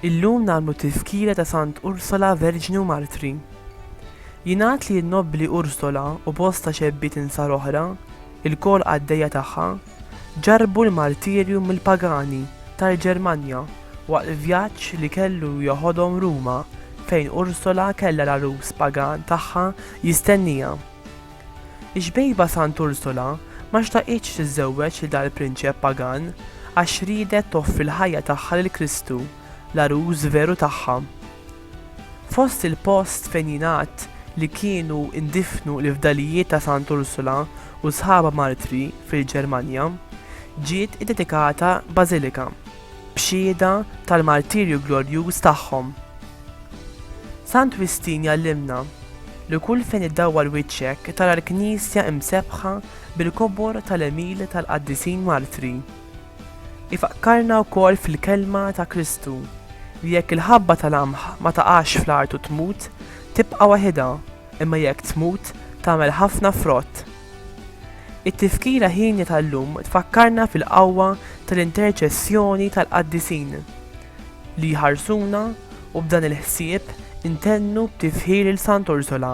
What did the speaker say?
Illum nagħmlu t-tizkira ta' Sant Ursola Verġni u Martri. Jingħad li n-nobbli Ursola u bosta xebbiet insar oħra, ilkoll qaddejja tagħha, ġarrbu l-martirju mill-pagani tal-Ġermanja waqt l-vjaġġ li kellu joħodhom Ruma fejn Ursula kellha l-għarus pagan tagħha jistennieha. Ix-xbejba Sant Ursula ma xtaqitx tiżżewweġ lil dal-prinċep pagan għax riedet toffri l-ħajja tagħha lil Kristu, l-għarus veru tagħha. Fost il-post fejn jingħad li kienu ndifnu l-fdalijiet ta' Sant' Ursula u sħabha martri fil-Ġermanja, ġiet iddedikata bażilika b'xhieda tal-martirju glorjuż tagħhom. Sant' Wistin jgħallimna li kull fejn iddawwar wiċċek tara l-knisja msebbħa bil-kobor tal-għemil tal-qaddisin martri. Ifakkarna wkoll fil-kelma ta' Kristu li jekk il-ħabba tal-qamħ ma taqax fl-art u tmut, tibqa' waħidha, imma jekk tmut, tagħmel ħafna frott. It-tifkira hienja tal-lum tfakkarna fil-qawwa tal-interċessjoni tal-qaddisin li jħarsuna u b'dan il-ħsieb intennu b'tifħir lil Sant'Ursula.